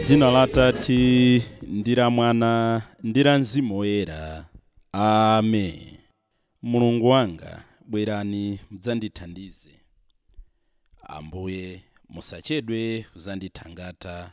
m'dzina la atate ndi la mwana ndi la mzimu woyera amen mulungu wanga bwerani mudzandithandize ambuye musachedwe kuzandithangata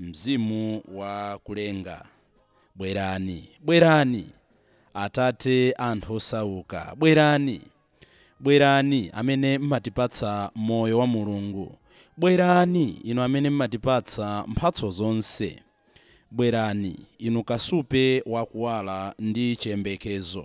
Mzimu wa kulenga, bwerani, bwerani, Atate a anthu osauka, bwerani, bwerani, amene mmatipatsa Moyo wa Mulungu, bwerani, Inu amene mmatipatsa mphatso zonse, bwerani, Inu Kasupe wa Kuwala ndi Chiyembekezo.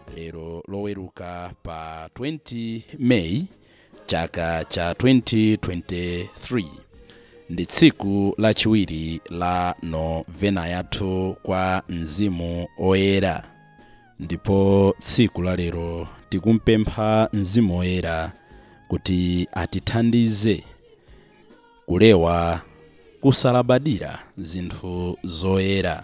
lero loweruka pa 20 meyi chaka cha 2023 ndi tsiku lachiwiri la novena yathu kwa mzimu woyera ndipo tsiku la lero tikumpempha mzimu woyera kuti atithandize kupewa kusalabadira zinthu zoyera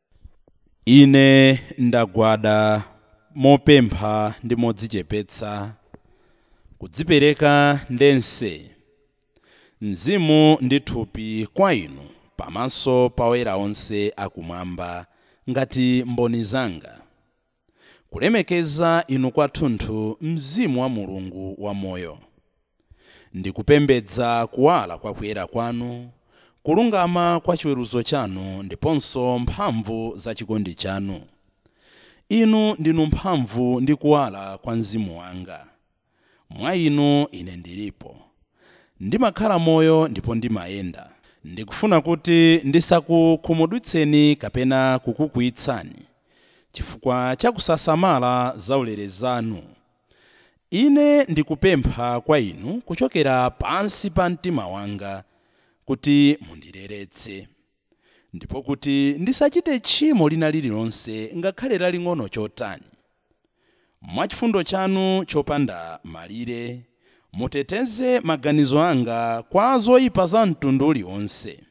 Ine ndagwada mopempha ndi modzichepetsa, kudzipereka ndense, mzimu ndi thupi kwa inu pamaso pa oyera onse akumwamba ngati mboni zanga. kulemekeza inu kwathunthu mzimu wa mulungu wamoyo ndikupembedza kuwala kwa kuyera kwanu kulungama kwa chiweruzo chanu ndiponso mphamvu za chikondi chanu inu ndinu mphamvu ndi kuwala kwa mzimu wanga Mwa Inu ine ndilipo. Ndimakhala moyo ndipo ndimayenda. Ndikufuna kuti ndisakukhumudwitseni kapena kukukwiyitsani chifukwa cha kusasamala zaulere zanu. Ine ndikupempha kwa Inu kuchokera pansi pa mtima wanga kuti mundileretse. ndipo kuti ndisachite tchimo lina lililonse ngakhale laling'ono chotani mwa chifundo chanu chopanda malire muteteze maganizo anga kwa zoyipa za mtundu uliwonse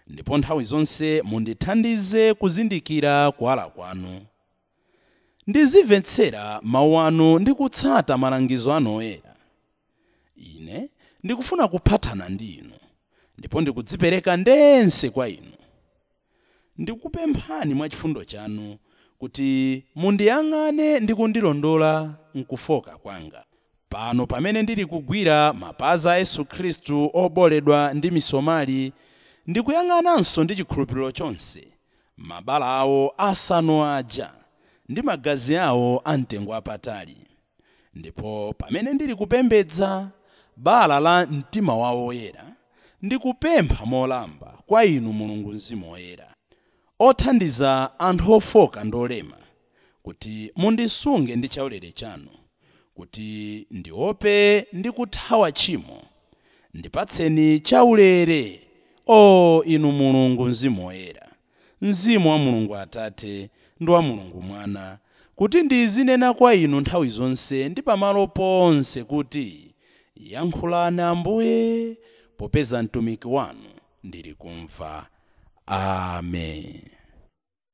ndipo nthawi zonse mundithandize kuzindikira kuwala kwanu Ndizimvetsera mawu anu ndi kutsata malangizo anu oyera. Ine ndikufuna kuphathana ndi inu, ndipo ndikudzipereka ndense kwa inu. Ndikupemphani mwa chifundo chanu kuti mundiyang'ane ndi kundilondola m'kufooka kwanga, pano pamene ndili kugwira mapazi a Yesu Khristu obooledwa ndi misomali, ndikuyang'ananso ndi chikhulupiriro chonse Mabala awo asanu aja ndi magazi awo amtengo wapatali. Ndipo pamene ndili kupembedza bala la mtima wawo woyera, ndikupempha molimba kwa inu Mulungu Mzimu Woyera, othandiza anthu ofooka ndi olema, kuti mundisunge ndi chaulere chanu, kuti ndiope ndi kuthawa tchimo. Ndipatseni chaulere, O inu Mulungu Mzimu Woyera, Mzimu wa Mulungu Atate ndi wa Mulungu Mwana, kuti ndizinena kwa inu nthawi zonse ndi pamalo ponse kuti, Yankhulani Ambuye, popeza mtumiki wanu ali kumva. Amen.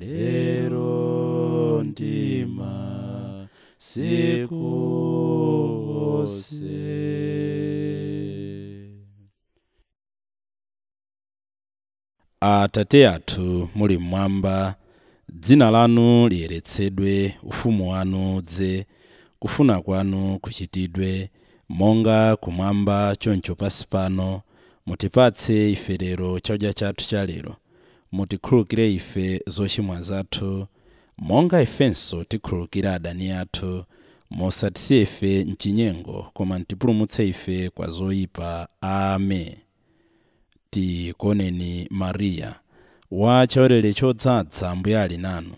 lero ndi masiku onse atate athu muli mmwamba dzina lanu liyeretsedwe ufumu wanu udze kufuna kwanu kuchitidwe monga kumwamba choncho pansi pano mutipatse ife lero chakudya chathu cha lero mutikhululukire ife zochimwa zathu, monga ifenso tikhululukira adani athu. Musatisiye ife m'chinyengo, koma mtipulumutse ife kwa zoyipa. Amen. Tikuoneni Mariya, wa chaulere chodzaza, Ambuye ali nanu.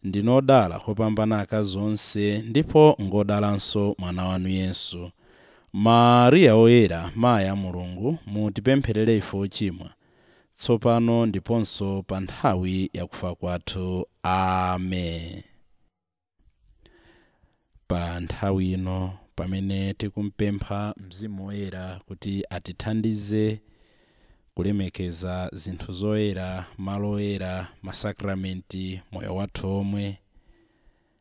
Ndinu odala kopambana akazi onse, ndipo ngodalanso mwana wanu Yesu. Mariya Woyera, Mayi a Mulungu, mutipempherere ife ochimwa. tsopano ndiponso pa nthawi yakufa kwathu amen pa nthawi ino pamene tikumpempha mzimu woyera kuti atithandize kulemekeza zinthu zoyera malo oyera masakramenti moyo wathu omwe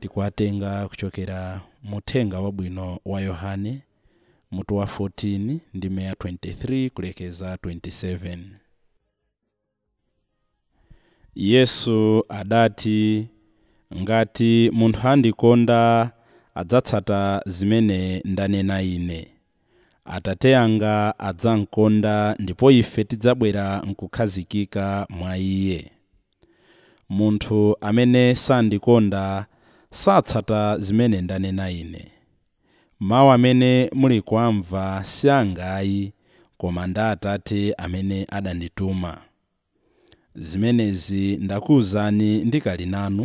tikuwatenga kuchokera mu uthenga wabwino wa yohane mutu wa 14 ndime ya 23 kulekeza 27 yesu adati ngati munthu andikonda adzatsata zimene ndanena ine atate anga adzamkonda ndipo ife tidzabwera nkukhazikika mwa iye Munthu amene sandikonda satsata zimene ndanena Ine. Mawu amene muli kuwamva si anga ayi, koma ndi a Atate amene adandituma. Zimenezi ndakuuzani ndikali nanu,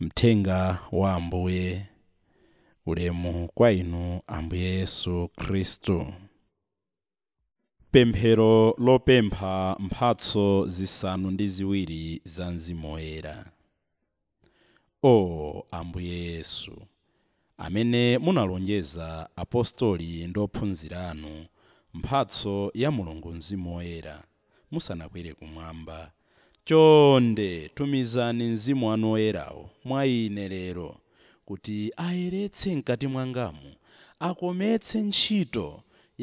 Mthenga wa Ambuye. Ulemu kwa inu Ambuye Yesu Khristu. Pemphero lopempha mphatso zisanu ndi ziwiri za Mzimu Woyera. O Ambuye Yesu, amene munalonjeza apostoli ndi ophunzira anu, mphatso ya Mulungu Mzimu Woyera, musanakwere kumwamba. Chonde tumizani Mzimu wanu Woyerawo mwa ine lero kuti ayeretse mkati mwangamu, akometse ntchito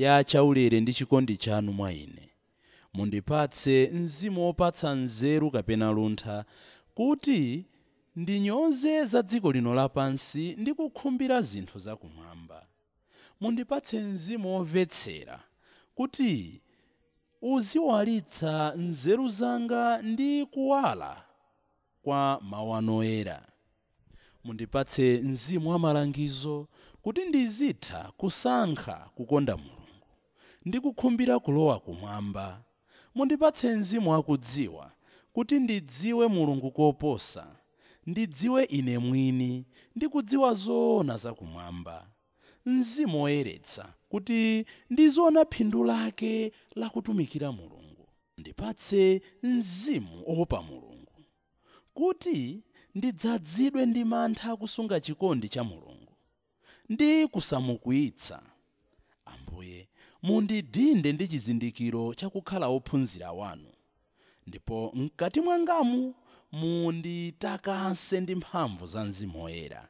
ya chaulere ndi chikondi chanu mwa ine. Mundipatse mzimu wopatsa nzeru kapena luntha, kuti ndinyoze za dziko lino lapansi ndi kukhumbira zinthu za kumwamba. Mundipatse mzimu womvetsera, kuti uziwalitsa nzeru zanga ndi kuwala kwa Mawu anu Oyera. Mundipatse mzimu wa malangizo kuti ndizitha kusankha kukonda Mulungu ndi kukhumbira kulowa kumwamba. Mundipatse mzimu wa kudziwa kuti ndidziwe Mulungu koposa, ndidziwe ine mwini ndi kudziwa zoona za kumwamba. Mzimu Woyeretsa, kuti ndiziona phindu lake la kutumikira Mulungu. Ndipatse mzimu owopa Mulungu, kuti ndidzazidwe ndi mantha akusunga chikondi cha Mulungu, ndi kusamukwiyitsa. Ambuye, mundidinde ndi chizindikiro cha kukhala wophunzira Wanu, ndipo mkati mwangamu munditakase ndi mphamvu za Mzimu Woyera.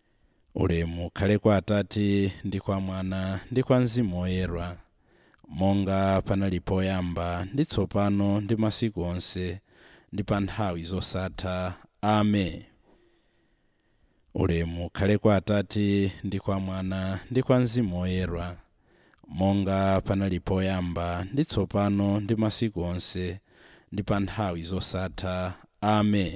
ulemu ukhale kwa atate ndi kwa mwana ndi kwa mzimu woyera monga panali poyamba ndi tsopano ndi masiku onse ndi pa nthawi zosatha amen ulemu ukhale kwa atate ndi kwa mwana ndi kwa mzimu woyera monga panali poyamba ndi tsopano ndi masiku onse ndi pa nthawi zosatha amen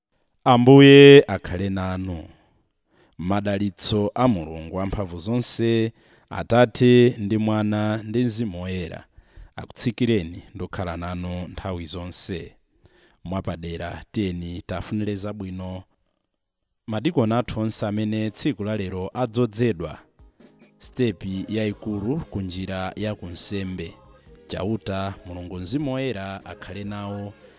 Ambuye akhale nanu. Madalitso a Mulungu Wamphamvu zonse, Atate, ndi Mwana, ndi Mzimu Woyera, akutsikireni ndi kukhala nanu nthawi zonse. Mwapadera, tiyeni tiafunire zabwino madikoni athu onse amene tsiku la lero adzozedwa sitepi yayikulu ku njira ya kunsembe. Chauta, Mulungu Mzimu Woyera akhale nawo.